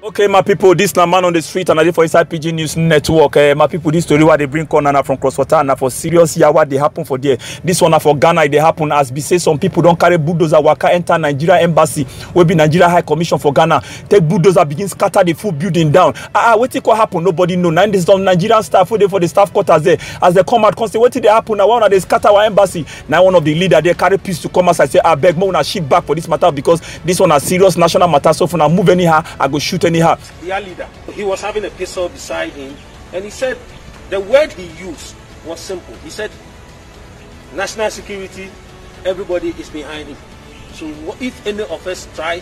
okay my people, this na man on the street and i dey for inside pidgin news network eh, my people, this story wey i dey bring come na from cross water na for serious yawa dey happen for there This one na for ghana e dey happen as be say some people don carry bulldozer waka enter nigeria embassy wey be nigeria high commission for ghana take bulldozer begin scatter the full building down ah ah wetin come happen nobody know na im dey some nigerian staff wey dey for the staff quarters there as dem come out come say wetin dey happen na why una dey scatter our embassy na one of the leader there carry pistol come outside say abeg make una shift back for this matter because this one na serious national matter so if una move anyhow i go shoot anyhow. their leader he was having a pistol beside him and he said the word he used was simple he said national security everybody is behind him so if any of us try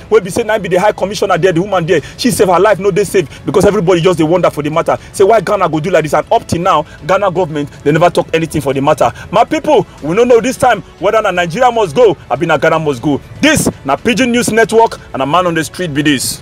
wey be say na be the high commissioner there the woman there she save her life no dey safe because everybody just dey wonder for the matter say why ghana go do like this and up till now ghana government dey never talk anything for the matter my people we no know this time whether na nigeria must go abi na ghana must go this na pidgin news network and na man on the street be this.